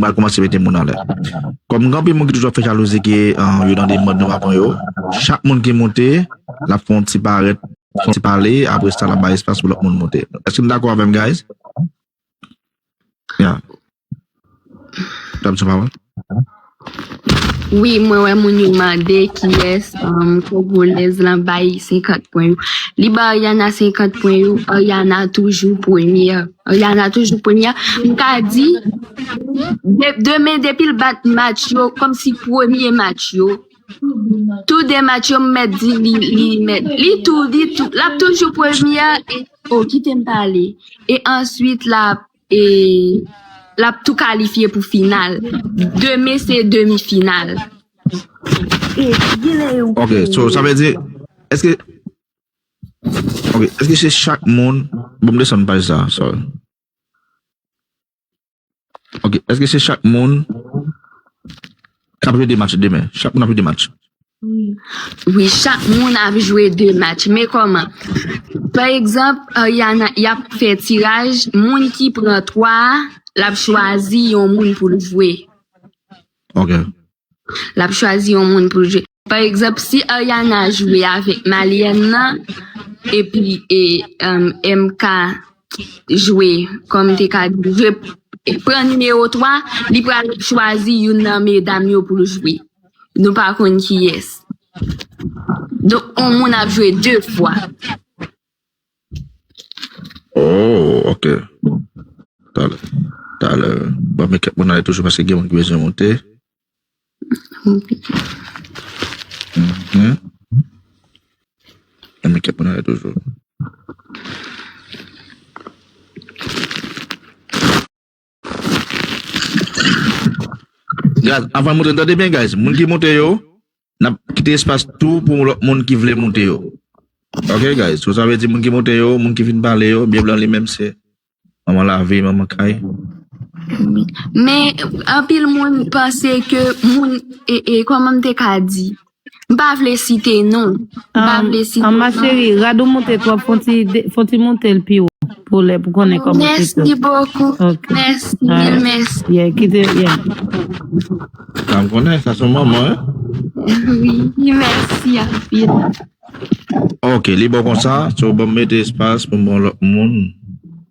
Mwen koumanse mete moun anlè. Kòm gen anpil moun ki toujou ap fè jalouzi ke yo nan de mòd nou pa pran yo, chak moun ki moute, l ap fè yon ti parèt, yon ti pale, apre sa l ap bay espas pou lòt moun moute. Èske nou dakò avè m guys? Ya. Dam san pawòl. Wi mwen wè moun yo mande kiyès kongolèz lan bay 50 pwen yo. Li bay Ariana 50 pwen yo, Ariana toujou premyè. Ariana toujou premyè. M ka di. Demen depi l bat match yo kòmsi premye match yo tou de match yo m mèt di li li mèt li tou li tou l ap toujou premye a e o kite m pale e answit l ap e l ap tou kalifye pou final demen se demi final Ok so sa vle di eske ok eske se chak moun bon m desann paj sa sorry. Ok, eske se chak moun k ap jwe 2 match demen? Chak moun ap jwe 2 match? Wi, chak moun ap jwe 2 match. Men kòman? Pa egzanp, y ap fè tiraj, moun ki pran 3 a, l ap chwazi yon moun pou l jwe. Ok. lap chwazi yon moun poul jwe pa egzanp si Ariana jwe avèk Malyèn nan epi MK jwe kòm te ka di jwe pran nimewo 3 li pral chwazi youn nan medam yo poul jwe nou pa konn kiyès donk on moun ap jwe 2 fwa. Oh ok bon talè talè banm men kèk moun ale toujou paske gen moun ki bezwen moute banm men kèk moun ale toujou Guys avan moute tande byen guys moun ki moute yo nap kite espas tou pou lòt moun ki vle moute yo ok guys sou sa vle di moun ki moute yo moun ki vin pale yo byen blan li menm se manman lavi manman kay Men anpil moun panse ke moun e e kòman m te ka di M pa vle site non. An ma chérie rad ou moute twòp fon ti moutel pi wo pou lè pou konnen kòman se tou. Mèsi bokou mèsi mil mèsi. Yeah kite yeah. Sa m konnen sa son manman hein. Wi mèsi anpil. Ok li bon konsa so banm mete espas pou m bon lòt moun.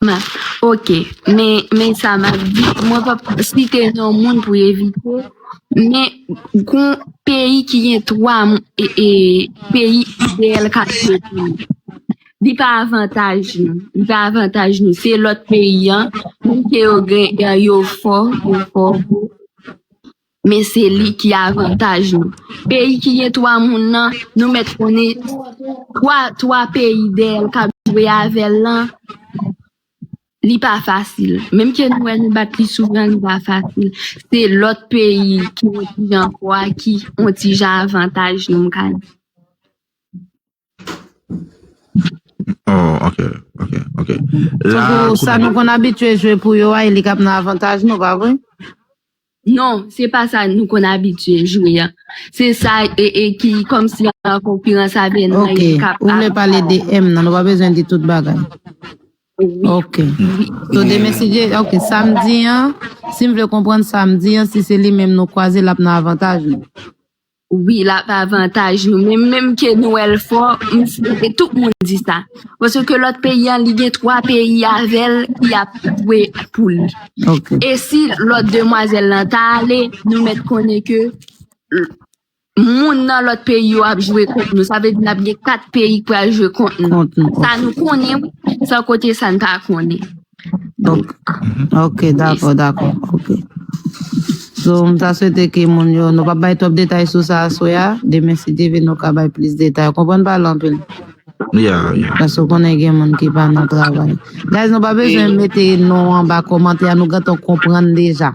M, Ok. Men, men sa m ap di, mwen p ap site non moun pou evite, men gon peyi ki gen 3 peyi ideyal k ap sot la. Li pa avantaj nou. Li pa avantaj nou. Se lòt peyi an, menm ke yo gen, yo fò, yo fò. Men se li ki avantaj nou. Peyi ki gen 3 moun lan, nou mèt konnen 3 peyi dèyè l k ap jwe avè l lan, li pa fasil. Menm ke nou wè nou bat li souvan, li pa fasil. Se lòt peyi ki yon ti jan fò a ki yon ti jan avantaj nou, m ka di. Oh, ok, ok, ok. La, Tankou sa nou konn abitye jwe pou yo a, e li kap nan avantaj nou, pa vre? Non, se pa sa nou konn abitye jwe a. Se sa e, e ki kòm si an konkirans avè nou Ok, e kap ou vle ap. pale de M nan, nou pa bezwen di tout bagay. Oui, Ok. oui. So demen si je, ok, samdi an, si m vle konprann samdi an, si se li menm nou kwaze, lap nan avantaj nou. Wi lap avantaj nou men menm ke nou wèl fò m swete tout moun di sa paske ke lòt peyi an li gen 3 peyi avèl ki ap dwe pou li e si lòt demwazèl lan ta ale nou mèt konnen ke moun nan lòt peyi yo ap jwe kont nou sa vle di nap gen 4 peyi ki pral jwe kont nou sa nou konnen wi san kote sa n pa konnen. Ok dakò dakò ok So m ta swete ke moun yo nou pa bay twòp detay sou sa aswe a demen si Dieu veut nou ka bay plis detay ou konprann pale anpil Ya, ya. Paske ou konnen gen moun ki pa nan travay. Guys, nou pa bezwen mete non anba komantè a, nou gentan konprann deja.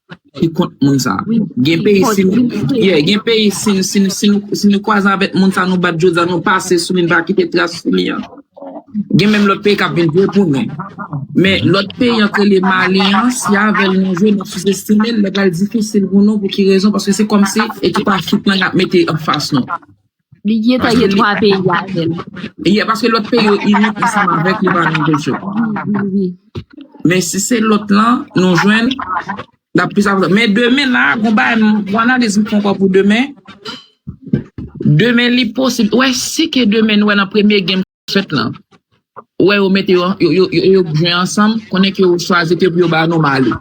Ki kont moun sa. Gen peyi si nou ye, gen peyi si nou si nou si nou si nou kwaze avèk moun sa nou bat jodi nou pase sou li nou pa kite tras sou li an. Gen menm lòt peyi kap vin vre pou nou. Men lòt peyi an ke le Mali an si avèl nou jwe nou sou estime l li pral difisil pou nou pou ki rezon paske se kòmsi e ki pa fitna yap mete an fas nou. Li gentan gen 3 peyi avè l. Ye, paske lòt peyi yo ini ansanm avèk li pa gen kesyon. Men si se lòt lan, nou jwenn, l ap plis avantaje. Men demen la, gon bagay m, gon analiz m fè ankò pou demen. Demen li posib, ou wè si ke demen nou wè nan premye gèm k ap fèt lan, ou wè yo mete yo, yo jwe ansanm, konnen ke yo chwazi ke pou yo ba nou Mali.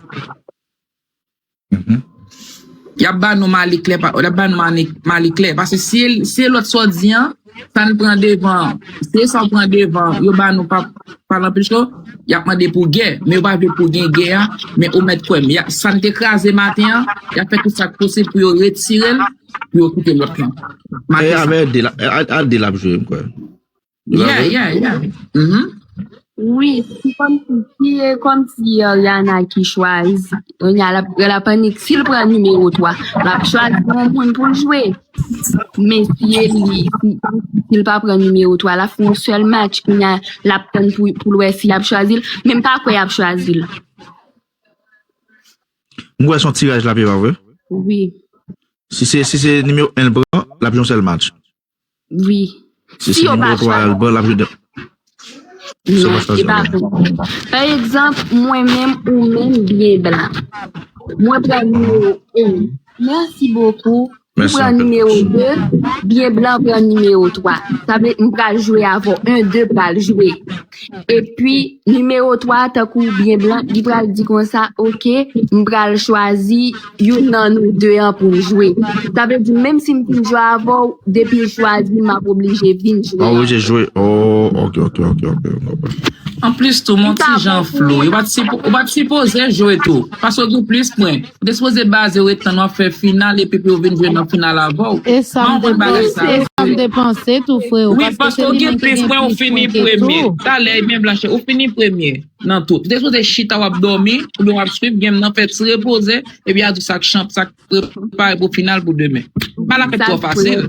Yap ba nou mali klè pa, yap ba nou mani, mali klè, pase si, si lòt sò di an, sa n pran devan, se sa w pran devan, yo ba nou pa, pa lan pil cho, yap mande pou gè, men yo pa vle pou gen gè a, men ou mèt kwè m, ya, sa n te kraze maten an, yap fè tout sa k posib pou yo retire l, pou yo kite lòt lan. Maten sa. Al di l ap jwe m kwè. Yeah, yeah, yeah. Mm-hmm. Wi, si kom si, si e kom si Oriana ki chwazi, Oriana la, la panik, si l pran nimewo 3, la chwazi yon moun pou l jwe. Men si e li, si, si l pa pran nimewo 3, la fon sel match, ki na, la pran pou, pou l wè si ap chwazi l, men pa kwe ap chwazi l. M wè son tiraj la pe pa vre. Wi. Si se, si se nimewo 1 l pran, la pi yon sel match. Wi. Si yo pa chwazi. Non, e pa vre. Pa egzanp, mwen menm, ou menm, biyè blan. Mwen pran nimewo 1. Mèsi bokou. Ou pran nimewo 2. Biyè blan pran nimewo 3. Sa vle m pral jwe avè w. 1, 2 pral jwe. Epi nimewo 3 tankou ou byen blan li pral di konsa ok m pral chwazi youn nan nou 2 an pou n jwe. Sa vle di menm si m fin jwe avè w depi w chwazi m m ap oblije vin jwe avè w. Oblije jwe oh ok ok ok ok m konprann. Anplis tou m on ti jan flou. Ou pa t sipoze jwe tou. Paske w gen plis pwen. Ou te sipoze bazew e tann wap fè final epi pou yo vin jwe nan final avèw. Esam te panse esam te panse tou freo wi paske ou gen plis pwen ou fini premye talè ebyen blanche ou fini premye nan tout ou te sipoze chita wap dòmi oubyen wap swiv game nan fè ti repoze epi yap di sak chanp sak prepare pou final pou demen pa la fèt twò fasil.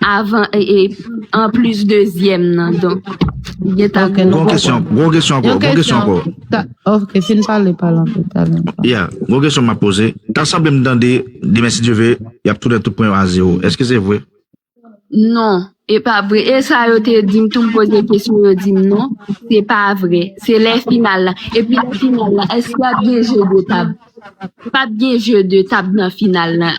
Avan e anplis dezyèm nan donk li gentan gen Gwo kesyon, gwo kesyon ankò, gwo kesyon ankò. Ta, ok, fin pale pale anpil pale anpil. Yeah, gwo kesyon map poze. Ta sanble m tande demen si Dye ve yap tounen tout pwen yo a zewo. Eske se vre? Non, e pa vre. E sa yo te di m tou m poze kesyon yo di m non, se pa vre. Se lè final la. Epi lè final la eske ap gen je de tab? Pap gen jeu de tab nan final lan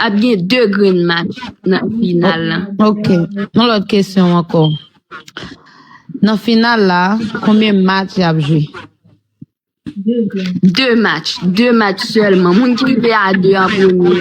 ap gen 2 grenn match nan final lan. Ok yon lòt kesyon ankò nan final la konbyen match yap jwe? 2 match 2 match sèlman moun ki rive a 2 an premye.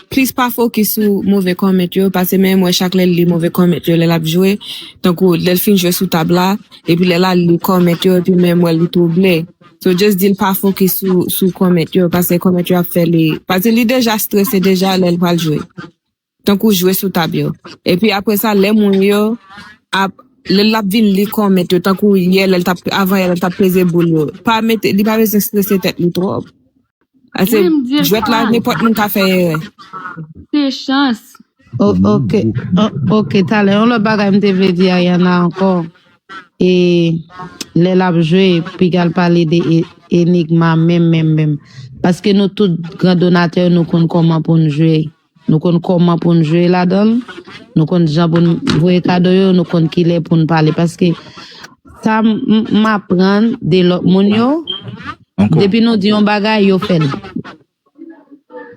Plis pa fokis sou move comment yo pase menm wè chak lèl li move comment yo lèl ap jwe tankou lèl fin jwe sou tab la epi lèl al li comment yo epi menm wèl li trouble so just dil pa fokis sou sou comment yo pase comment yo ap fè li pase li deja strese deja lèl pral jwe tankou jwe sou tab yo epi aprè sa lè moun yo ap lèl lap vin li comment yo tankou yè lèl tap avan yè lèl tap peze boul yo pa mete li pa bezwen strese tèt li trop. Ase, Wi, m dil jwèt la, sa. nenpòt moun ka fè erè. Se chans. O- Mwen ok bouke. o- ok talè yon lòt bagay m te vle di Ayana ankò e lè lap jwe pigal pale de e- enigma menm menm menm paske nou tout gran donatè yo nou konn kòman poun jwe Nou konn kòman pou n jwe ladan l, nou konn jan pou n voye kado yo, nou konn ki lè pou n pale. Paske sa m aprann de lòt moun yo, depi nou di yon bagay, yo fè l.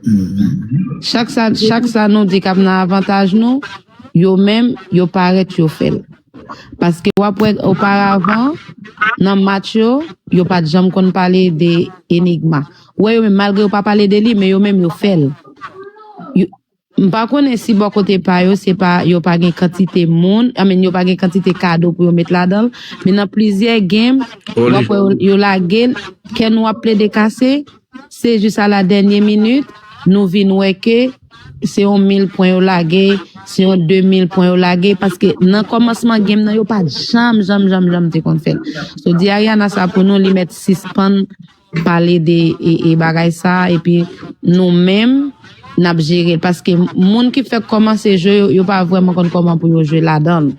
Mm-hmm. Chak sa nou di kap nan avantaj nou, yo menm, yo parèt yo fè l. Paske wap wè oparavan, nan match yo, yo pat janm konn pale de enigma. Ou wè yo menm malgre yo pa pale de li men yo menm yo fèl. Yo M pa konnen si bò kote pa yo se pa yo pa gen kantite moun, I mean yo pa gen kantite kado pou yo met ladan l, men nan plizyè game Oh li. wap wè yo, yo lage l, kè nou ap plede kase, se jis a la dènye minit nou vin wè ke se yon mil pwen yo lage, se yon de mil pwen yo lage, paske nan kòmansman game nan yo pat janm janm janm janm te konn fè l. So di Ariana sa pou nou li mèt sispann pale de bagay sa epi nou menm nap jere l paske moun ki fèk kòmanse jwe yo yo pa vrèman konn kòman pou yo jwe ladan l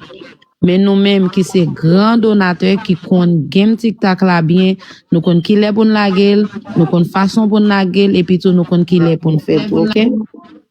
men nou menm ki se gran donatè ki konn gem tiktak la byen nou konn kilè pou n lage l nou konn fason pou n lage l epi tou nou konn kilè pou n fè ok.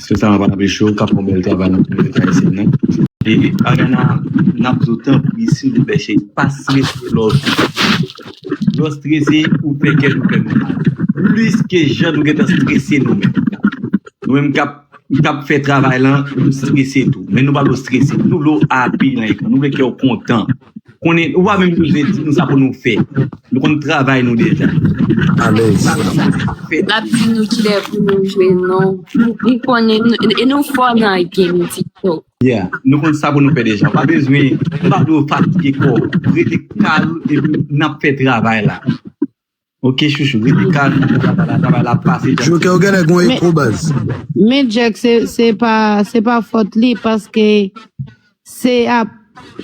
Mesye sa pa anpeche yo kap fè bèl travay nan kominote ayisyèn nan. E Ariana nap di w tanpri silvouplè cheri pa strese lè w strese. Lè w strese ou fè kè nou fè nou mal plis ke jan nou gentan strese nou menm. Nou menm kap fè travay lan nou strese tou men nou pa vle w strese nou vle w api nan ekran nou vle kè w kontan. konnen ou pa menm koze di nou sa pou nou fè nou konn travay nou deja alèz lap di nou kilè pou nou jwe non nou konnen e nou fò nan game tiktok yeah nou konn sa pou nou fè deja pa bezwen pa do fatige kò rete kal e nap fè travay la Ok chouchou rete kalm nan pou travay la travay la ap pase jack. Joker ou genlè gon eko baz. Men Jack se pa se pa fòt li paske se ap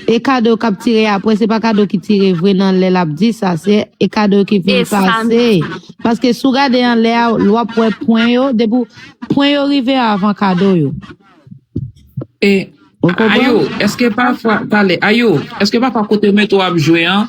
e kado kap tire aprè se pa kado ki tire vre nan lè lap di sa se e kado ki vin pase paske sou gade anlè a l wap wè pwen yo depi pwen yo rive avan kado yo ou konprann. Ayou eske pafwa pale ayou eske pafwa kote metro ap jwe an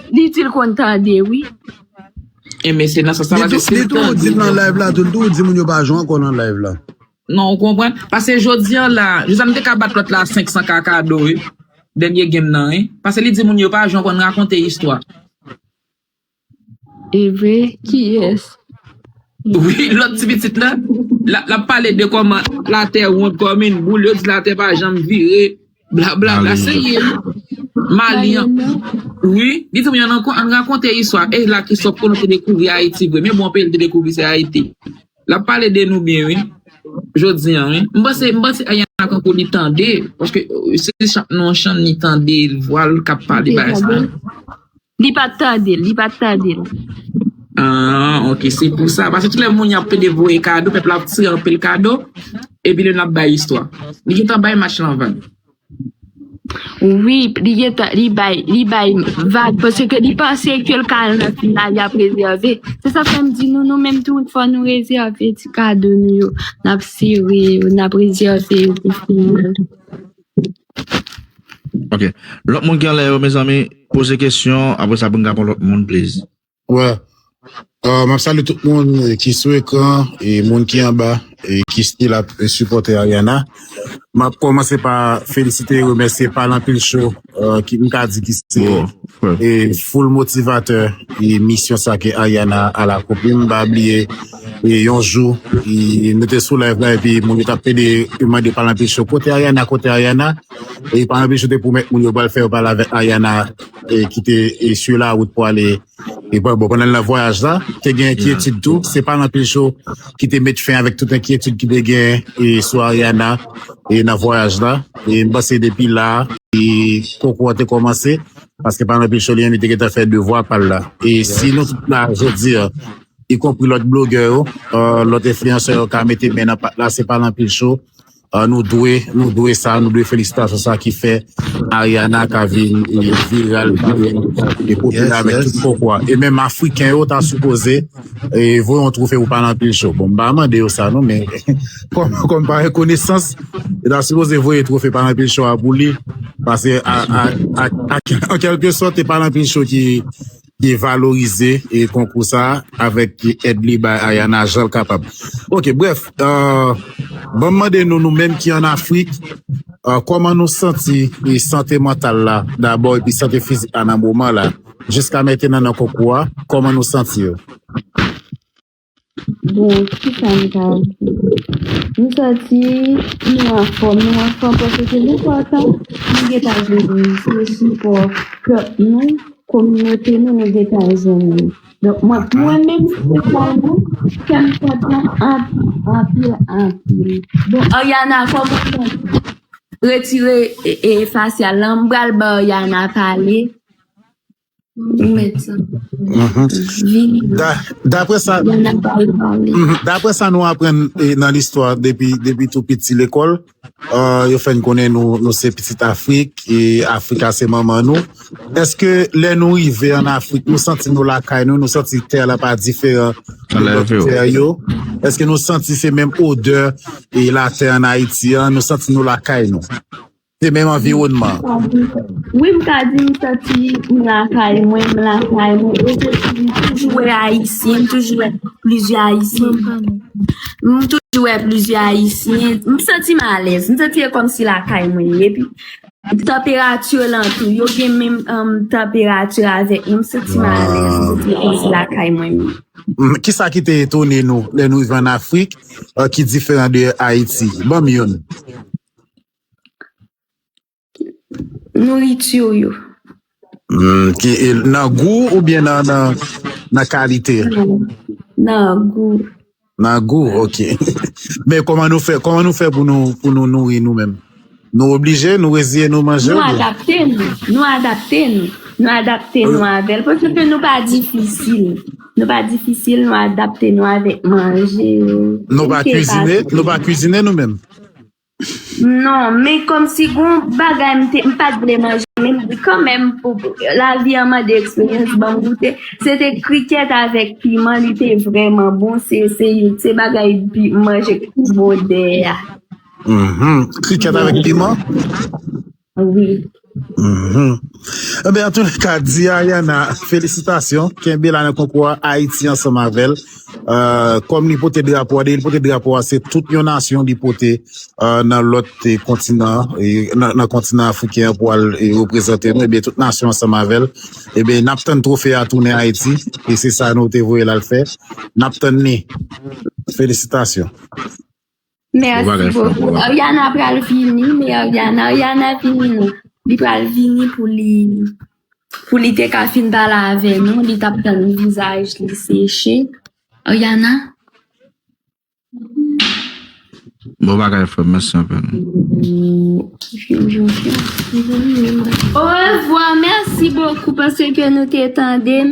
Li itil konn tande wi. Enben se nan sans la paske sil tande. Li tou di nan live la tou li tou di moun yo pa jwe ankò nan live la. Non ou konprann? Pase jodi an la, jodi an m te ka bat lòt la 500 ka kado wi. Dènye game nan wi. Pase li di moun yo pa jwe ankò n rakonte istwa. Evre kiyès? Wi lòt ti pitit la, lap pale de kòman latè wond kòm yn boul, yo di latè pa janm vire. Bla bla bla se ye Mali an wi li te mwen an rakonte iswa e la ki sop kono te dekouvri Ayiti vre men bon peyi li te dekouvri se Ayiti la pale de nou byen wi jodi an wi m panse m panse ayan la tankou li tande paske se chak nou an chan ni tande vwal kap pale bay sa Li pat tandel, li pat tandel. Aah ok se pou sa paske tout lè moun yap pede voye kado pèp la ap tire anpil kado epi lè nap bay istwa li gentan bay match lan vag Wi li gentan li bay li bay vag paske li panse ke l ka al nan final yap rezève se sa fèm di nou nou menm tou fò nou rezève ti kado nou yo nap sere yo nap rezève yo pou final Ok Lot moun ki anlè yo mezanmi poze kesyon apre sa poun ka pran lot moun please. Wè euh, map salye tout moun ki sou ekran e moun ki anba e ki stil ap sipòte Ariana map kòmanse pa felisite e remèsye pal anpil cho ki m ka di ki se e full motivatè e misyon sa ke Ariana al akonpli m pa bliye E yon jou e nou te sou live la epi moun yo tap pede yo mande palan pichou kote Ariana kote Ariana e palan pichou te pwomèt moun yo pral fè yo pale avèk Ariana e ki te e sur la route pou ale e bon bon pandan nan vwayaj la te gen enkyetid tou se palan pichou ki te met fen avèk tout enkyetid ki te gen e sou Ariana e nan vwayaj la e m panse depi la e konkou an te kòmanse paske palan pichou li menm li te gentan fè devwa pal la e si nou tout la jodi an y konpri lòt blogè yo, lòt enfliyansè yo ka mete men nan pat la, se pa lan pil cho, nou dwe, nou dwe sa, nou dwe felisitasyon sa ki fè Ariana ka vin viral, ka vin popilè avèk tout pokwa, e menm afriken yo ta sipoze voye yon twofe pou pa lan pil cho, bon m pa mande yo sa non men kòm pa yon konesans yo ta sipoze voye twofe pa lan pil cho a pou li, pase an kèlke sòt e pa lan pil cho ki. te valorize konkou sa avèk èd li bay Ayana jan l kapab. Ok, brèf, ban m mande nou nou menm ki an Afrik, kòman nou santi sante mantal la dabò epi sante fizik la nan moman la jiska mentenan nan konkou a, kòman nou santi yo? Bon, ki sa m ka di? M santi nou anfòm, nou anfòm paske se nou fòs an. Nou gen tan jwenn nou, se sipò ke nou, kominote nou, nou gen tan jwenn nou. Donk, mwen menm espesyalman, kè m kontan anpil, anpil, anpil. Bon, Ariana, kòman w santi? Retire fasyal lan, m pral ba Ariana pale. Dapre sa nou apren nan listwa depi tou piti lekòl, yo fè n konnen nou se pitit Afrik, e Afrika se manman nou. Eske lè nou rive an Afrik, nou santi nou lakay nou, nou santi tè la pa diferan de lòt tè yo? Eske nou santi se menm odè latè an Ayiti an, nou santi nou lakay nou? Se menm anviwònman an. Wi m ka di m santi m lakay mwen, m lakay mwen e se si m toujou wè ayisyen, m toujou wè plizyè ayisyen, m toujou wè plizyè ayisyen, m santi m alèz, m santi e kòmsi lakay mwen ye, epi tanperati yo lan tou, yo gen menm tanperati avèk nou, m santi m alèz, m santi e kòmsi lakay mwen ye. Ki sa ki te etone nou lè nou rive an Afrik ki diferan de Ayiti? Ban m youn. nourriture yo. Humm ki nan gou ou byen nan nan nan kalite? Nan gou. Nan gou ok men koman nou fè koman nou fè pou nou pou nou nouri nou menm nou oblije nou reziye nou manje nou adapte nou nou adapte nou nou adapte nou avèl pwosè ke nou pa difisil nou pa difisil nou adapte nou avèk manje nou pa kizine nou pa kizine nou menm Non, men kòmsi gen yon bagay m te, m pa t vle manje, men m di kanmenm pou lavi an mande eksperyans ban m goute, se te krikèt avèk piman, li te vrèman bon, se youn se bagay pi manje ki pi bon dèyè a. Krikèt avèk piman? Ah oui. Mhm. Eh ben, en tout cas, di Ariana, félicitations. Kenbe la nan konkou a, Haïti ensemble avec elle. Euh, comme li pote drapo a, de li pote drapo a, se tout yon nasyon li pote euh, nan lot eh, kontinan, eh, nan, nan kontinan afriken pou al eh, reprezante nou, eh ben, tout nasyon ensemble avec elle. Eh ben, nap tann trofe a tounen Haïti, e se sa nou te voye la l fè. Nap tann ni. Félicitations. Merci beaucoup Ariana pral vini me Ariana Ariana vini nou li pral vini pou li pou li te ka fin pala avè nou li tap tan vizaj li seche Ariana Bon bagay frèm mèsi anpil Orevwa mèsi bokou paske nou te tandem.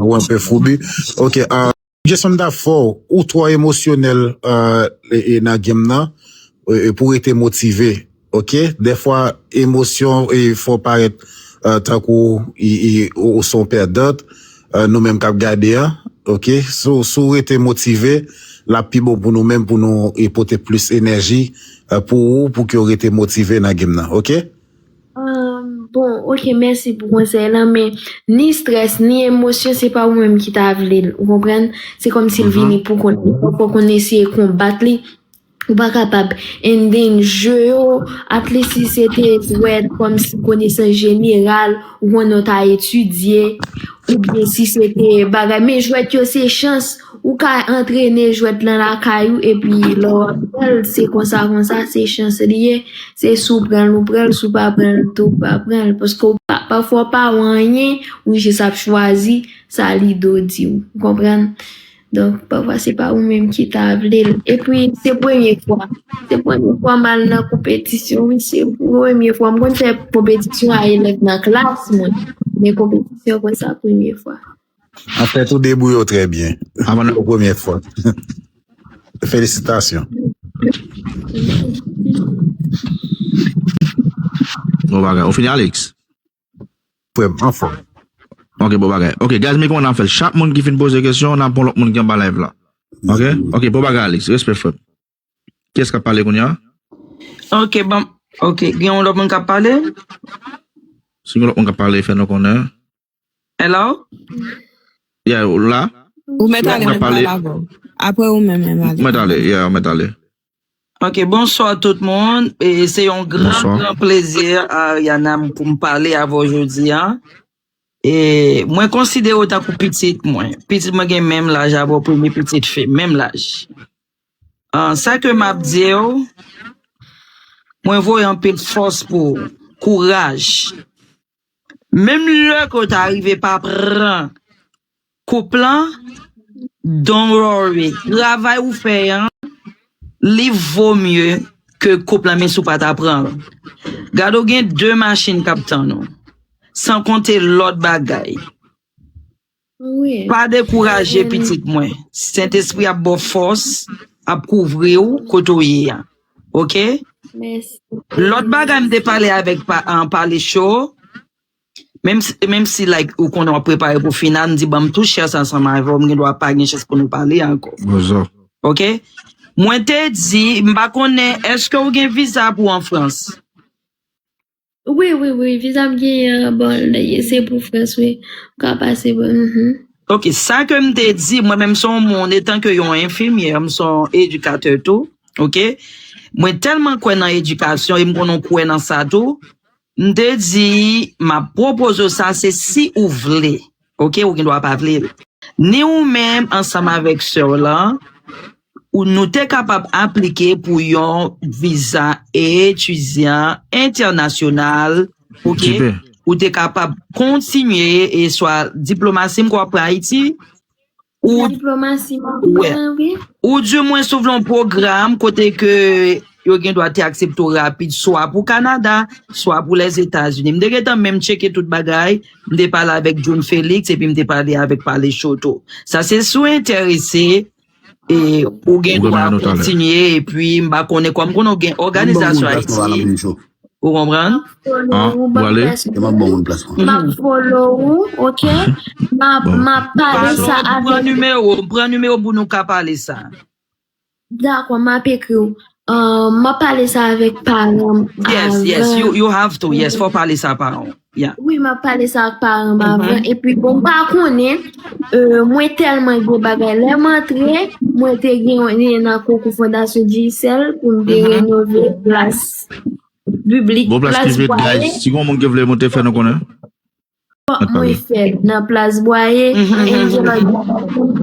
Ou anpe foubi ok Jason ta fò ou twò emosyonèl nan game nan pou rete motive ok dèfwa emosyon fè parèt tankou ou son pèdant nou menm kap gade an ok si w rete motive lap pi bon pou nou menm pou nou pote plis enèji pou ou pou ke w rete motive nan game nan ok. Bon ok mèsi pou konsèy lan men ni strès ni emosyon se pa ou menm ki ta vle l ou konprann se kòmsi l vini pou kont li fòk ou konn eseye konbat li ou pa kapab and then je yo atlis si se te dwèt kòmsi konesans jeneral ou konnen w ta etidye oubyen si se te bagay men jwèt yo se chans Ou ka antrene jwèt lan lakay ou epi lè w ap pran l se konsa konsa se chans li ye, se si w pran l ou pran l si w pa pran l tou ou pa pran l paske w pa pafwa w pa wè anyen ou jis ap chwazi sa lido di w ou konprann donk pafwa se pa ou menm ki ta vle l epi se premye fwa se premye fwa m al nan konpetisyon wi se premye fwa m konn fè konpetisyon a elèv nan klas mwen men konpetisyon konsa premye fwa. An fèt ou debouye w trè byen. An ban nou premye fòt. Felisitasyon. Bon bagay. Ou fini Alix? Frè m, anfòm. Ok, bon bagay. Ok, guys men kòman nap fèl. Chak moun ki fin poze kesyon, nap pran lòt moun ki anba live la. Ok? Ok, bon bagay Alix. Respè frè m. Kiyès kap pale kounya? Ok banm ok gen yon lòt moun kap pale? Si gen lòt moun kap pale fè nou konnen. Hello? Yeah ou la? Ou mèt ale mwen pale avè w. Aprè ou menm menm ale. Ou mèt ale yeah ou mèt ale. Ok bonswa tout moun e se yon gran gran plezi Ariana pou m pale avè w jodi a. E mwen konsidere w tankou pitit mwen. Pitit mwen gen menm laj avè w premye pitit fi m menm laj. Ahh sa ke map diw mwen voye anpil fòs pou ou kouraj menm lè ke w ta rive pa pran koup lan don't worry travay ou fè an li vo mye ke koup lan menm si w pa ta pran l gade w gen 2 machin kap tann ou san konte lòt bagay. Pa dekouraje pitit mwen sentespri ap baw fòs ap kouvriw kote ou ye a ok lòt bagay mte pale avèk pale cho menmsi like ou konnen wap prepare pou final mdi banm tout chans ansanm avèw m gendwa pa gen chans pou nou pale ankò ok mwen te di m pa konnen eske ou gen viza pou an frans. Wi wi wi visa m genyen an bon se pou France wi ou ka pase pou mhm. Ok, sa ke m te di, mwen menm se yon moun etan ke yon enfimyè, m se yon edikatè tou, ok, mwen tèlman kwè nan edikasyon e m konnen w kwè nan sa tou, m te di m ap pwopoze w sa se si ou vle, ok, ou gen dwa pa vle l. Ni ou menm ansanm avèk sè w lan, Ou nou te kapab aplike pou yon viza etidyan entènasyonal, ok, ou te kapab kontinye e swa diplomasi m kwè pran Ayiti, ou di mwen sou vle yon pwogram kote ke yo gen dwa te aksepte ou rapid swa pou Kanada, swa pou Lèzetazini. M te gentan menm tcheke tout bagay, m te pale avèk John Felix epi m te pale avèk Palechoto. Sa se si w enterese. Ou gen dwa kontinye epi m pa konnen kòm konnen ou gen òganizasyon Ayiti ou konprann m pran nimewo m pou nou ka pale sa. Um, m'a pale sa avèk paranm Yes, yes, avan. you, you have to, yes, fò pale sa pa an. Yeah. Wi, m'a pale sa ak paranm Mhm. avan. E pi bon, pa konnen, euh, mwen tèlman gen bagay. Lè m antre, mwen te gen yon li nan konkou Fondasyon Digicel pou m te Mhm. renove plas publik, Bon plas plas prive, bwale. guys. Si gon moun ki vle monte, fè nou konnen. Fòk mwen fè nan plas bwaye enjoy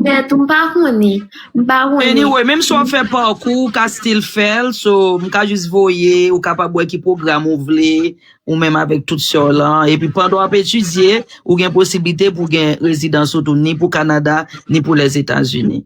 tèt ou m pa konnen m pa konnen. Anyway menm si w ap fè pa w kou ou ka still fè l so m ka jis voye ou kapab wè ki pwogram ou vle ou menm avèk tout sè w lan epi pandan w ap etidye ou gen posiblite pou w gen rezidans ou tou ni pou Kanada ni pou Lèzetazini.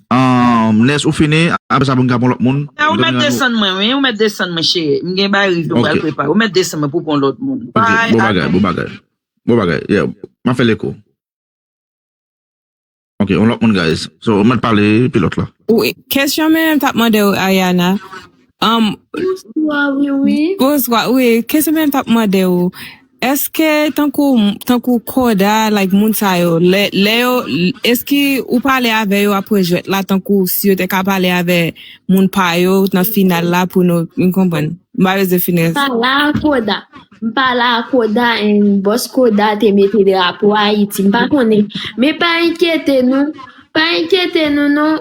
Nès ou fini apre sa pou n ka pran lòt moun. Ou mèt desann mwen wi, ou mèt desann mwen cheri. M gen bagay rive m pral prepare. Ou mèt desann mwen pou w pran lòt moun. Bye a nou. Bon bagay, bon bagay, bon bagay. M ap fè l eko. Ok, yon lòt moun guys. So, ou mèt pale pi lòt la. Wi, kès yon menm m t ap mande w Ariana, Am Bonswa wiwi. Bonswa wi kesyon mwen tap mande ou eske tankou tankou koda like moun sa yo lè lè yo eski ou pale avè yo apre jwèt la tankou si yo te ka pale avè moun pa yo nan final la pou nou m konprann m pa bezwen fini Sa la koda. M pa la a Koda en Bòs Koda te mete drapo Ayiti m pa konnen men pa enkyete nou pa enkyete nou non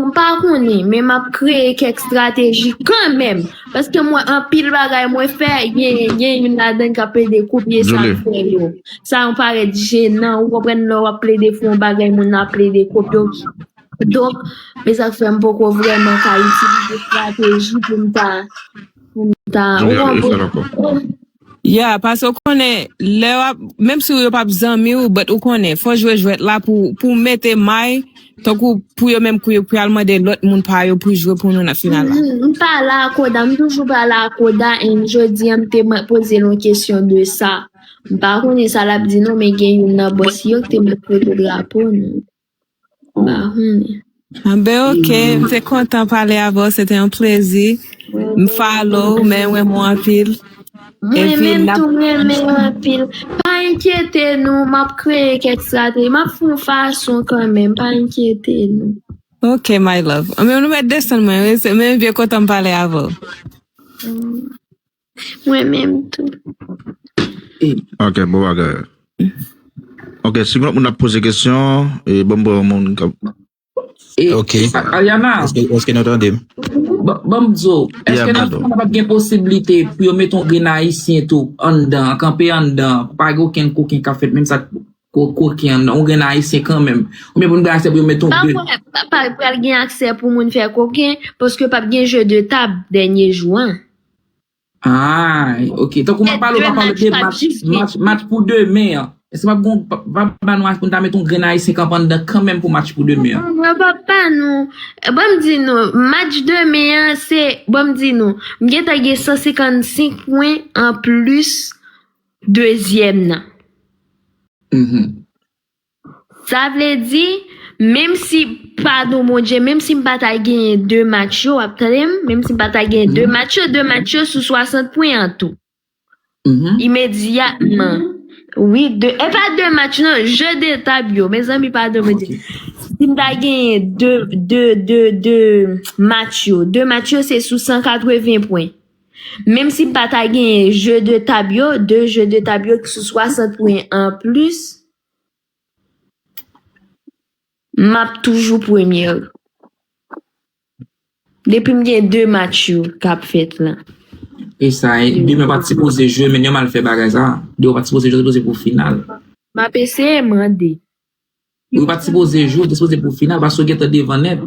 m pa konnen men m ap kreye kèk estrateji kanmenm paske m wè anpil bagay mwen fè gen youn ladan k ap plede kopye sa m fè yo sa m parèt jenan ou konprann lè w ap plede fè yon bagay moun nan ap plede kopye w donk se sa k fè m poko vrèman ka itilize estrateji pou m ta. General Efren ankò. Yeah, pase ou konnen lè wap, menm si yo pap zanmi ou but ou konnen fò jwe jwèt la pou pou mete may tankou pou yo menm kou yo pral mande lòt moun pa yo pou jwe pou nou nan final la. M pa la a koda, m toujou pa la a koda and jodi an m te mèt poze l yon kesyon de sa. M pa konnen sa lap di non men gen youn nan bòs yo k te mèt pote drapo nou. Mahoney. Anben ok, m te kontan pale avè w, se te yon plezi. M follow w, men renmen w anpil. Mwen Epi menm nap tou m renmen w anpil. Pa enkyete nou, m ap kreye kèk estrateji. M ap fè yon fason kanmenm, pa enkyete nou. Ok my love. Anben nou mèt desann mwen wi, se menm vye kontan m pale avè w. Mwen menm tou. Ok bon bagay. Ok si lòt moun ap poze kesyon e banm pran yon moun kap. Ok. Ariana. Eske nou tande m? Banm diw. Eske nan fim nan pap gen posiblite pou yo met yon grenn ayisyen tou anndan kanpe anndan pou pa gen okenn koken kap fèt menm sa Kout koken ou gen ayisyen kanmenm. Ou byen pou nou bay aksè pou yo met on 2. Mwen pa kwè pa pral gen aksè pou moun fè koken paske pap gen jeu de tab dènye jou an. Aay ok tankou map pale ou pa pale de match match pou demen an. Eske pap gon pap ba nou aksè pou nou ta met on grenn ayisyen kanpe anndan kanmenm pou match pou demen an. Mwen pap ba nou banm di nou match demen an se banm di nou m gentan gen 155 pwen an plis Dezyèm nan. Sa vle di, menm si, padon Bondye, menm si m pa ta genyen 2 match yo, w ap tande m, menm si m pa ta genyen 2 match yo, 2 match yo sou 60 pwen an tou. Imedyatman. Wi, e pa 2 match non, je de tab yo. Mezanmi, padon Bondye. Si m ta genyen 2 match yo, 2 match yo se sou 180 pwen. Menm si pa ta genyen je de tab yo, de je de tab yo ki sou 60 pwen an plis, m ap toujou premye. Depi m gen de match yo k ap fèt la. E sa, demen w pa t sipoze jwe men yo mal fè bagay sa. Demen w pa t sipoze jwe, w sipoze pou final. M ap eseye mande. Demen w pa t sipoze jwe, w te sipoze pou final paske w gentan devan nèt.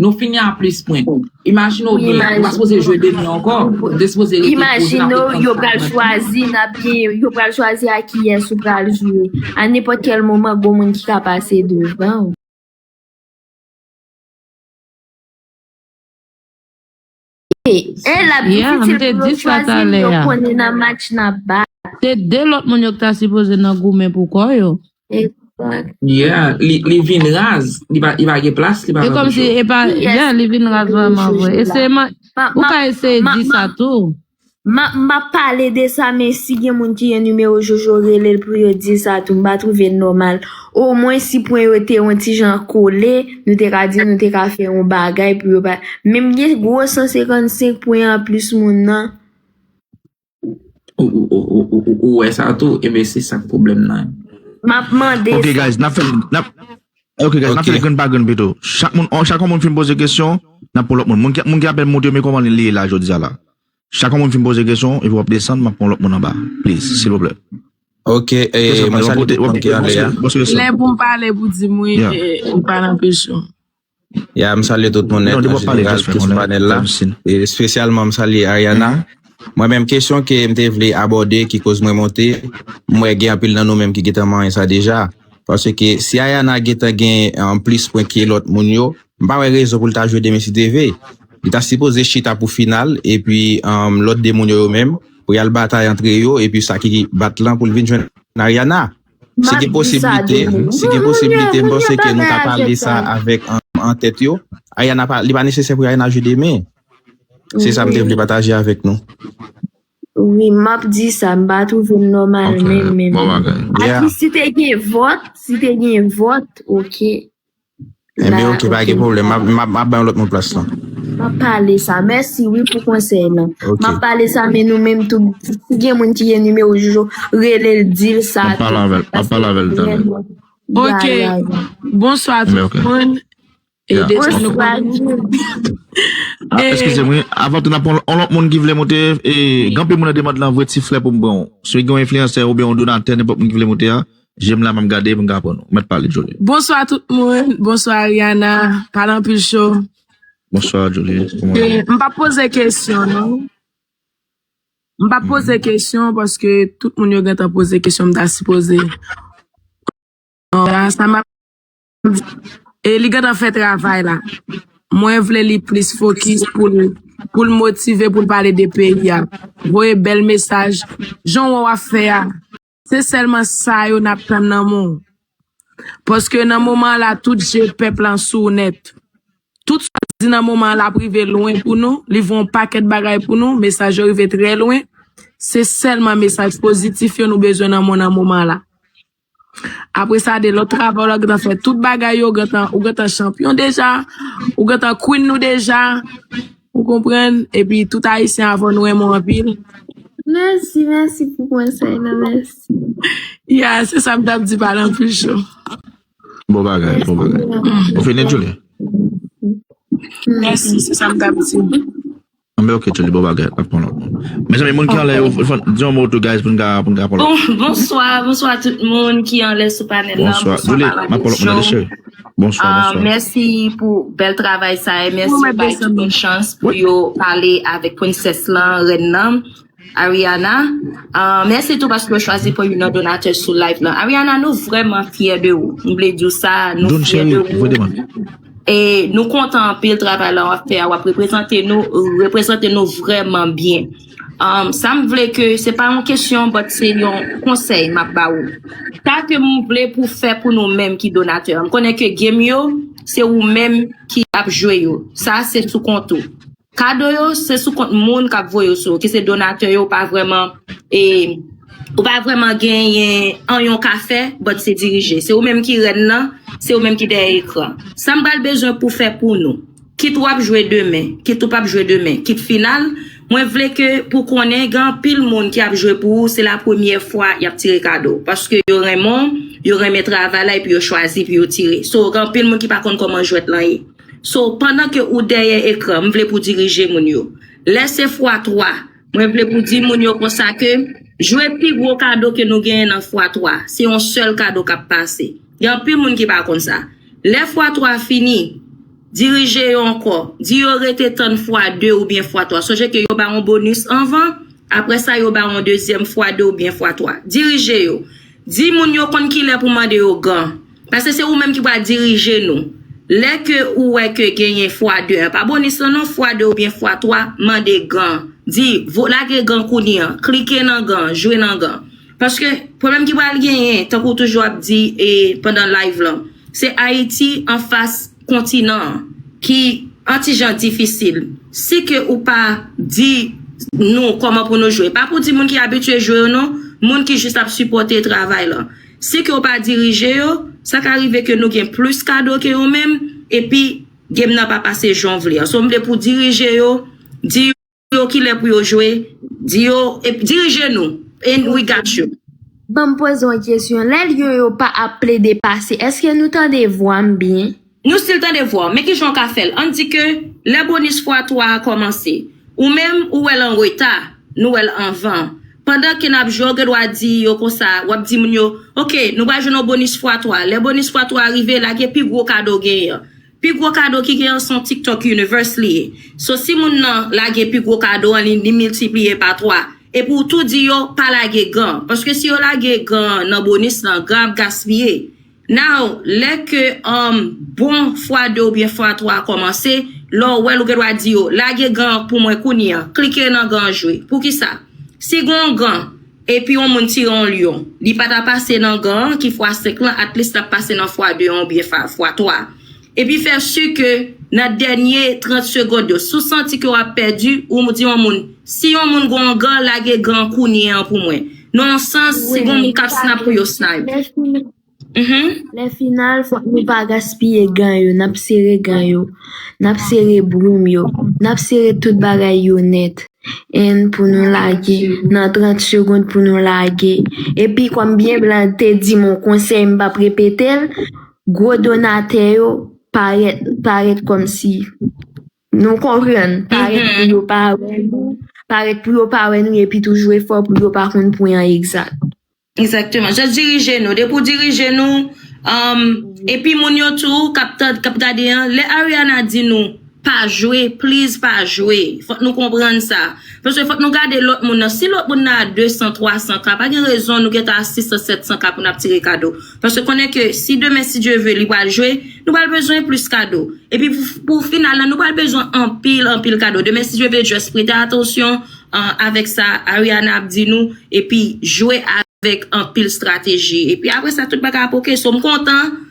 Nou fini a plis pwen. Imajine w byen, ou pa sipoze jwe demen ankò, ou te sipoze rete poze nan pwen 30 pwen. Imajine w yo pral chwazi nan pye, yo pral chwazi a kiyès ou pral jwe. A nenpòt kèl moman gon moun ki ka pase devan ou. Se 2 lòt moun yo ki ta sipoze nan goumen pou kò yo. Se kòm si e pa. Li vin raz vrèman vre. Ou ka eseye di sa tou. M ap pale de sa men si gen moun ki gen nimewo jojo rele l pou yo di sa tou m pa twouve l nòmal omwen si pwen yo te on ti jan kole nou te ka di nou te ka fè on bagay pou yo pa men m gen gwo 155 pwen anplis moun nan Ou wè sa tou e ben se sa k pwoblèm nan M ap mande sa Ok guys n ap fè n ap Ok guys n ap fè l grenn pa grenn pito chak on moun fin poze kesyon n ap pran lòt moun moun ki ap monte yo me kòman li ye la jodi a la. Chak yon moun fin poze kesyon epi wap desann map pran lòt moun anba please silvouplè. Ok ee mwen salye tout moun ki anle a. Lè poum pale pou dim wi ou pa nan presyon. Ya m salye tout moun nèt an jeneral ki sou panèl la espesyalman m salye Ariana mwen menm kesyon ke m te vle abòde ki koz mwen monte m wè gen anpil nan nou menm ki gentan manyen sa deja. Paske si Ayana gentan gen plis pwen ke lòt moun yo, m pa wè rezon pou l ta jwe demen si TV. Li ta sipoze chita pou final epi lòt 2 moun yo yo menm pou y al batay antre yo epi sa ki bat lan pou l vin jwenn Ariana. Si gen posiblite, si gen posiblite m panse ke nou ka pale sa avèk antèt yo. Ariana pa, li pa nesesè pou Ariana jwe demen. Se sa m te vle pataje avèk nou. Wi map di sa m pa twouve l nòmal menm menm. Aki si te gen vòt, si te gen vòt ok. Enben ok pa gen pwoblèm map bay yon lòt moun plas lan. Map pale sa mèsi wi pou konsèy lan. Map pale sa men nou menm tou si gen moun ki gen nimewo jojo relel dil sa tou. Map pale avèl map pale avèl tande. Ok bonswa tout moun. First graduate. Eskize m wi, avan tou n ap pran yon lòt moun ki vle moute, gen anpil moun nan demand lan vre ti frè pou m pran ou. Si gen yon enfliyansè oubyen yon donatè nenpòt moun ki vle moute a, je m la m ap gade pou m ka pran ou. Mèt pale Joly. Bonswa tout moun, bonswa Ariana, pale anpil cho. Bonswa Joly, kouman ou ye? M p ap poze kesyon non. M p ap poze kesyon paske tout moun yo gentan poze kesyon m ta sipoze. Sa m ap. E li gentan fè travay la. Mwen vle li plis fokis poul poul motive poul pale de peyi a. Voye bèl mesaj jan wè wap fè a. Se sèlman sa yo nap tann nan men w. Paske nan moman la tout je pèp lan sou w nèt. Tout sa w di nan moman an lap rive lwen pou nou, li voye yon pakèt bagay pou nou, mesaj yo rive trè lwen. Se sèlman mesaj pozitif yo nou bezwen nan monn an moman la. Apresa de lòt travay w la gentan fè tout bagay yo, ou gentan chanpyon deja, ou gentan queen nou deja, ou konprann, epi tout ayisyen avè w nou renmen w anpil. Mèsi, mèsi pou konsèy nan, mèsi. Ya, se sa m t ap di pale anpil cho. Bon bagay, bon bagay. Ou fini Julie? Mèsi, se sa m t ap di. Anmweyy ok Joli bon bagay nap pran lòt moun Mezanmi moun ki anlè yo fòn di yon mo tou guys poun ka poun ka pran lòt moun. Bonswa bonswa tout moun ki anlè sou panèl lan bonswa Bonswa Joli map pran lòt moun tande cheri Bonswa bonswa Mèsi pou bèl travay sa e mèsi bay tout moun chans pou yo pale avèk princesse lan rèn nan. Ariana, ahh mèsi tou paske ou chwazi pou youn nan donatè sou live lan. Ariana nou vrèman fyè de ou. M vle di w sa, nou Don fyè de Chery, ou. voye demann. E nou kontan anpil travay la wap fè a, wap reprezante nou, reprezante nou vrèman byen. Um, sa m vle ke, se pa yon kesyon, but se yon konsèy map ba ou. Sa ke m vle pou w fè pou nou menm ki donatè an, m konnen ke game yo, se ou menm ki ap jwe yo. Sa se sou kont ou. Kado yo se sou kont moun kap voye yo sou yo ki se donatè yo ou pa vrèman e ou pa vrèman genyen anyen w ka fè but se dirije se ou menm ki rèn nan se ou menm ki dèyè ekran sam pral bezwen pou fè pou nou kit wap jwe demen kit ou pap jwe demen kit final mwen vle ke pou konnen gen anpil moun ki ap jwe pou ou se la premyè fwa yap tire kado paske yo renmen w yo renmen travay la epi yo chwazi pou yo tire so gen anpil moun ki pa konn kòman jwèt lan ye. So pandan ke ou dèyè ekran, m vle pou dirije moun yo. Lè se fwa 3, mwen vle pou di moun yo konsa ke jwe pi gwo kado ke nou genyen nan fwa 3. Se yon sèl kado k ap pase. Gen anpil moun ki pa konn sa. Lè fwa 3 fini, dirije yo ankò. Di yo rete tann fwa 2 oubyen fwa 3. Sonje ke yo ba yon bonis anvan, apre sa yo ba yon dezyèm fwa 2 oubyen fwa 3. Dirije yo. Di moun yo konn kilè pou mande yo gan. Paske se ou menm ki pral dirije nou. Lè ke ou wè ke genyen fwa 2 an, pa bonis lan non, fwa 2 oubyen fwa 3, mande gan. Di, vo lage gan kounye an. Klike nan gan, jwe nan gan. Paske, pwoblèm ki pral genyen, tankou ou toujou ap di e pandan live lan, se Ayiti anfas kontinan an, ki an ti jan difisil. Si ke ou pa di nou kòman pou nou jwe, pa pou di moun ki abitye jwe yo non, moun ki jis ap sipòte travay lan. Sen ke w pa dirije yo, sa ka rive ke nou gen plis kado ke yo menm, epi game nan pa pase jan w vle an. So m vle pou w dirije yo, di yo kilè pou yo jwe, di yo, epi dirije nou, and we got you. Banm poze yon kesyon, lè Lion yo pa ap plede pase, eske nou tande vwa m byen? Nou stil tande vwaw men kijan ou ka fèl ann di ke lè bonis fwa 3 a kòmanse ou menm ou wèl an reta nou wèl anvan pandan ke nap jwe ou gen dwa di yo konsa wap di moun yo ok nou pral jwenn yon bonis fwa 3 lè bonis fwa 3 a rive lage pi gwo kado genyen an pi gwo kado ki genyen an son tiktok universe li ye so si moun nan lage pi gwo kado an li miltipliye pa 3 epi ou tou di yo pa lage gan paske si yo lage gan nan bonis lan gan ap gaspiye Now, lè ke um bon fwa 2 oubyen fwa 3 a kòmanse, lè w wè l ou gen dwa di yo, lage gan an pou mwen kounye an, klike nan gan an jwe. Poukisa? Si gen yon gan, epi yon moun tire yon lyon, li pa ta pase nan gan an ki fwa 5 lan, atlis l ap pase nan fwa 2 an oubyen fwa 3 a. Epi fè su ke nan dènye 30 segond yo, si w santi ke w ap pèdi, ou di yon moun, si yon moun gen yon gan, lage gan an kounye an pou mwen. Nan yon sans, si gen moun k ap snap pou yo snipe. Lè final, fòk nou pa gaspiye gan yo, n ap sere gan yo, n ap sere broum yo, n ap sere tout bagay yo nèt. N pou nou lage, nan 30 segond pou nou lage. Epi kòm byen blan te di m yon konsèy m p ap repete l, Gwo donatè yo parèt parèt kòmsi nou konprann parèt pou yo pa wè nou parèt pou yo pa wè nou epi tou jwe fò pou yo pa konn pwen an egzat. Egzakteman just dirije nou depi w dirije nou epi moun yo tou kap gade an lè Ariana di nou Pa jwe, please pa jwe. Fòk nou konprann sa. Paske fòk nou gade lòt moun nan. Si lòt moun nan a 200, 300 ka, pa gen rezon nou gen tan a 600, 700 ka pou n ap tire kado. Paske konnen ke si demen si Dye ve li pral jwe, nou pral bezwen plis kado. Epi pou final la nou pral bezwen anpil, anpil kado. Demen si Dye ve just prete atansyon avèk sa Ariana ap di nou epi jwe avèk anpil strateji. Epi apre sa tout bagay ap ok. So m kontan.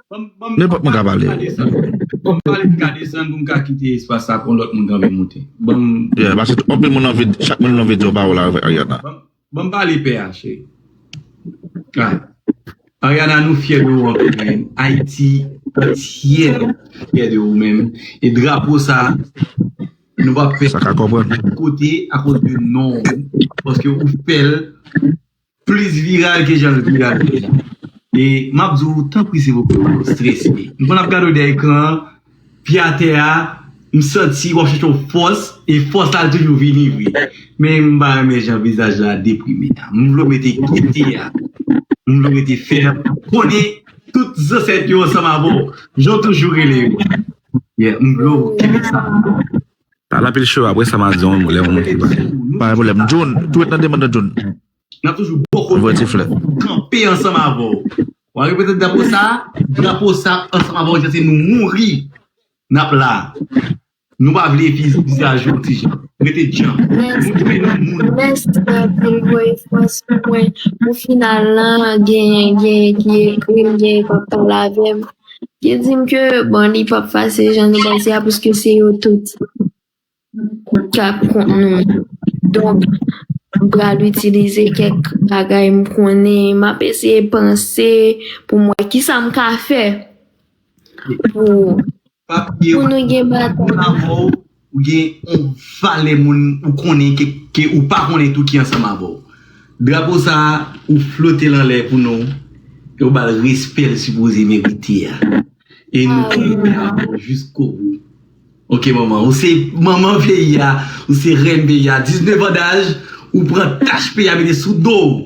Nenpòt moun ka pale. Banm pale pou m ka desann pou m ka kite espas sa pou lòt moun ka vin moute. Banm. Yeah, pase anpil moun anvi, chak moun anvi di yon pawòl avèk Ariana. Banm pale pè a cheri. Right. Ariana nou fyè de ou anpil men Ayiti antyè fyè de ou men e drapo sa nou pap fè kote akoz de non ou paske ou fèl Plis viral ke jan l viral deja. E m ap di w tanpri se pou w pa strese. M konn ap gade w dèyè ekran an, pye atè a, m santi w ap chèche yon fòs, e fòs la toujou vini vre. Men m pa renmen jan vizaj la deprime a. M vle w mete gete a. M vle w rete fèm. Konnen tout zansèt yo ansanm avè w. Jan w toujou rele yo. M vle w kenbe sa. Pale anpil chou apre sa ma di yon mo lè yon moun fin pale. Pa gen pwoblèm. Jun, tou ret nan demann nan Jun. Nap toujou bò kote nou toujou kanpe ansanm avèw wa repete drapo sa drapo sa ansanm avèw jan se nou mouri nap la nou pa vle vizaj ou tijan rete djanm nou dwe nou moun. Mèsi anpil voye fòs pou mwen pou final lan genyen genyen ki ekrim genyen kap pale avèm. Yo di m ke bon li pap fasil jan nou panse a paske se yo tout k ap kont nou. Donk, m pral itilize kèk bagay m konnen, m ap eseye panse pou m wè kisa m ka fè pou nou gen batay. Ou gen yon valè moun ou konnen ke ou pa konnen tou ki ansanm avè w. Drapo sa a, ou flote l anlè pou nou e ou ba l respè l sipoze merite a. E nou kanpe avè w jiskobou. Ok manman. Ou se manman peyi a. Ou se rèn peyi a. 19 an daj, ou pran tach peyi a mete sou do w.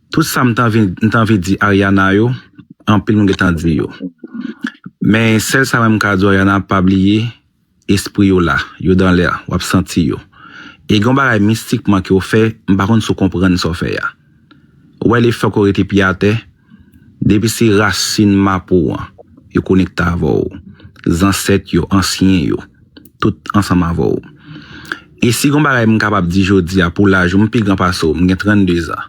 Tout sa m t anvi di Ariana yo anpil moun gentan di yo men sèl sa mwen m ka di w Ariana pa bliye espri yo la yo dans l'air wap santi yo e gen yon bagay mistikman ke w fè m pa konn si w konprann sa w fè a ou wè le fè ke w rete pye atè depi se rasin mapou an yo konekte avè w zansèt yo ansyen yo. tout ansanm avè w. E si gon bagay m kapab di jodi a pou laj ou m pi gran pase w, m gen 32 zan.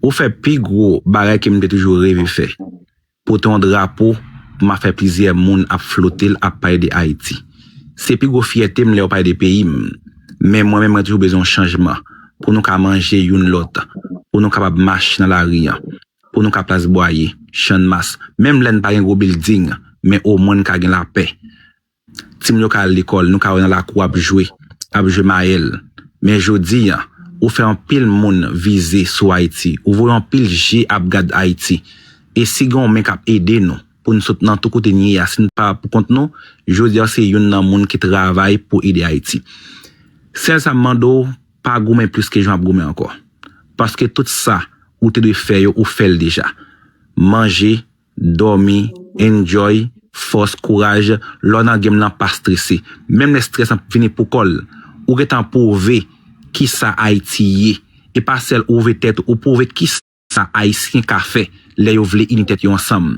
Ou fè pi gwo bagay ke m te toujou reve fè, pote yon drapo pou ma fè plizyè moun ap flote l ap pale de Ayiti. Se pi gwo fyète m lè yo pale de peyi m. Men mwen menm mwen toujou bezwen yon chanjman pou nou ka manje youn lòt, pou nou kapab mache nan lari an, pou nou ka plas Bwaye, Channmas, menm lè n pa gen gwo bilding men omwen n ka gen lapè. Timoun yo ka al lekòl, nou ka wè nan lakou ap jwe, ap jwe mayèl. Men jodi a, ou fè anpil moun vize sou Ayiti, ou voye anpil je ap gad Ayiti. E si gen yon men k ap ede nou pou n sot nan tou kote n ye a, si n pa pou kont nou, jodi a w se youn nan moun ki travay pou ede Ayiti. Sèl sa m mande w, pa goumen plis ke jan w ap goumen ankò. Paske tout sa ou te dwe fè yo, ou fè l deja. Manje, Dòmi, enjoy, fòs, kouraj, lè w nan game lan pa strese. Menm lè stress lan vini pou kò l, ou gentan pwouve kisa Ayiti ye. E pa sèl ou pwouve tèt ou, ou pwouve kisa Ayisyen ka fè lè yo vle ini tèt yo ansanm.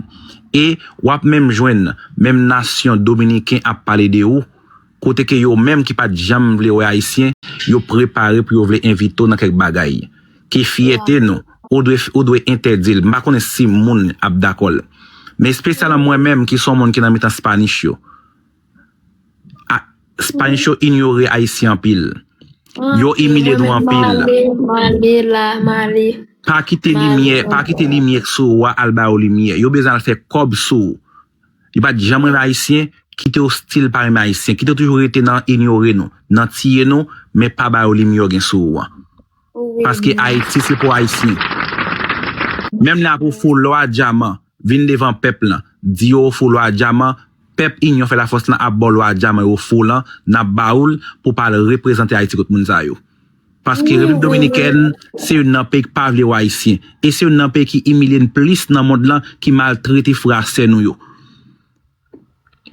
E w ap menm jwenn menm nasyon Dominiken ap pale de ou. kote ke yo menm ki pat janm vle wè Ayisyen, yo prepare pou yo vle envite w nan kèk bagay, ki fyète nou, ou dwe ou dwe entèdi l, m pa konnen si moun ap dakò l. Men espesyalan mwen menm ki son moun ki nan mitan Spanish yo, a, Spanish yo inyore Ayisyen anpil. Yo imilye nou anpil. M ale la, m ale. Pa kite limyè, pa kite limyè k sou ou a al ba yo limyè. Yo bezwen al fè kòb sou ou. Li pa t janm renmen Ayisyen, kite yo stil pa renmen Ayisyen, kite yo toujou rete nan inyore nou, nan tiye nou, men pa ba yo limyè w gen sou ou an. Paske Ayiti se pou Ayisyen. Menm lè ap ofri w lò a dyaman, vin devan pèp lan, di yo ofri w lò a dyaman, pèp Inyon fè lafòs lan ap ba w lò a dyaman yo ofri w lan, n ap ba ou l pou w pa al reprezante Ayiti kot moun sa yo. Paske Repiblik Dominikèn se youn nan peyi k pa vle w Ayisyen. E se youn nan peyi ki imilye n plis nan mond lan, ki maltrete frè ak sè nou yo.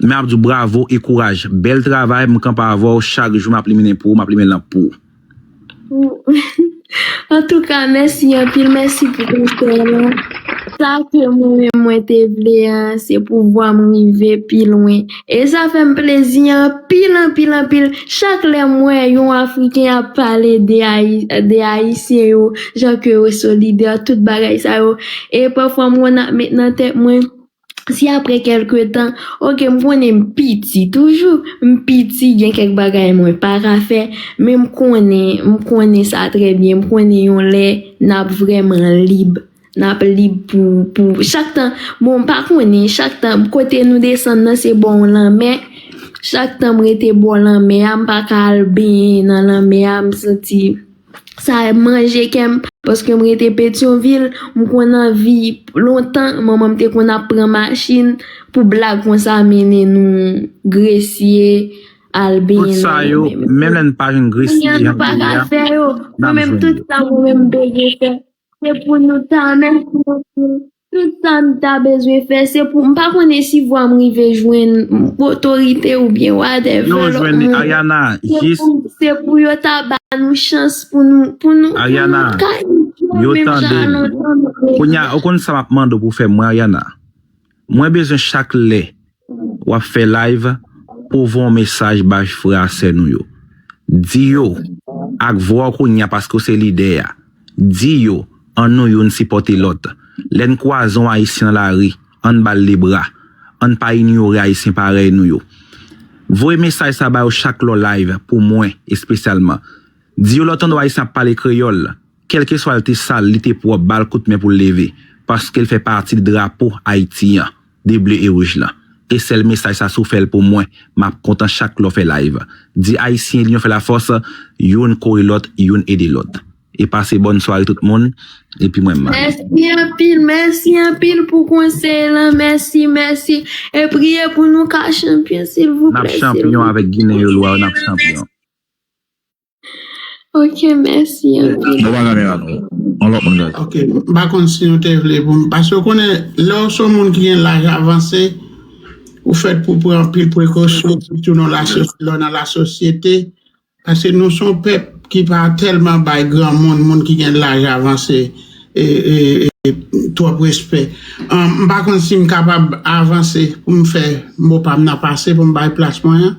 Men ap di w bravo e kouraj. Bèl travay, m kanpe avè w chak jou, m ap limen pou ou, m ap limen lanp pou ou. Antouka, mèsi anpil, mèsi pou konsèy lan. Sa ke mwen menm mwen te vle a, se pou vwa m rive pi lwen. E sa fè m plezi anpil anpil anpil chak lè m wè yon Afriken ap pale de Ayisyen yo, jan ke yo solidè, tout bagay sa yo. E pafwa m konn ap met nan tèt mwen, si apre kèlke tan, oke m konnen m piti toujou, m piti, gen kèk bagay mwen pa ka fè, men m konnen, m konnen sa trè byen, m konnen yon lè n ap vrèman lib. Nap li pou pou chak tan bon m pa konnen chak tan kote nou desann nan se bò yon lanmè chak tan m rete bò lanmè a m pa ka al benyen nan lanmè a m santi sa manje kè m paske m rete petyonvil m konn anvi lontan manman m te konn ap pran machin pou blag konsa mennen nou gresye al benyen nan lanmè menm lè nou pa jwenn gresye jan nou ye a nap jwenn yo. Se pou nou ta mèsi anpil. Tout sa n ta bezwen fè se pou m pa konnen si vwa m rive jwenn otorite oubyen whatever lòt moun. Yo jwenn li Ariana jis. Se pou yo ta ba nou chans pou nou pou nou ka enjoy menm jan a lontan nou. Ariana, yo tande m. Kounya ou konn sa m ap mande w pou w fè mwen Ariana? Mwen bezwen chak lè wap fè live pouw voyon mesaj bay frè a sè nou yo di yo ak vwaw kounya paske ou se lidè a di yo an nou youn sipòte lòt lèn kwaze yon ayisyen nan lari ann bal de bra ann pa inyore ayisyen parèy nou yo voye mesaj sa ba yo chak lèw live pou mwen espesyalman di yo lè w tande yon ayisyen ap pale kreyòl Kèlkeswa l te sal, li te pwòp, ba l kout men pou l leve, paske l fè pati drapo Ayiti an, de ble e wouj lan. E sèl mesaj sa si w fè l pou mwen, m ap kontan chak lè w fè live. Di Ayisyen linyon fè lafòs, youn kore lòt, youn ede lòt. E pase bòn sware tout moun, epi mwen m. Mèsi anpil, mèsi anpil pou konsèy lan, mèsi, mèsi. E priye pou nou ka chanpyon silvouplè, silvouplè. N ap chanpyon avèk Ginen yo lwa yo, n ap chanpyon. Ok mèsi anpil. Bon bagay mera nou. Yon lòt moun gade. Ok m pa konn si nou te vle pou m paske ou konnen lè w se yon moun ki gen laj avanse ou fèt pou w pran anpil prekosyon sitou nan lè w nan lasosyete paske nou se yon pèp ki pa tèlman bay granmoun moun ki gen laj avanse twòp respè. M pa konn si m kapab avanse pou m fè mo pa m nan pase pou m bay plas mwen an.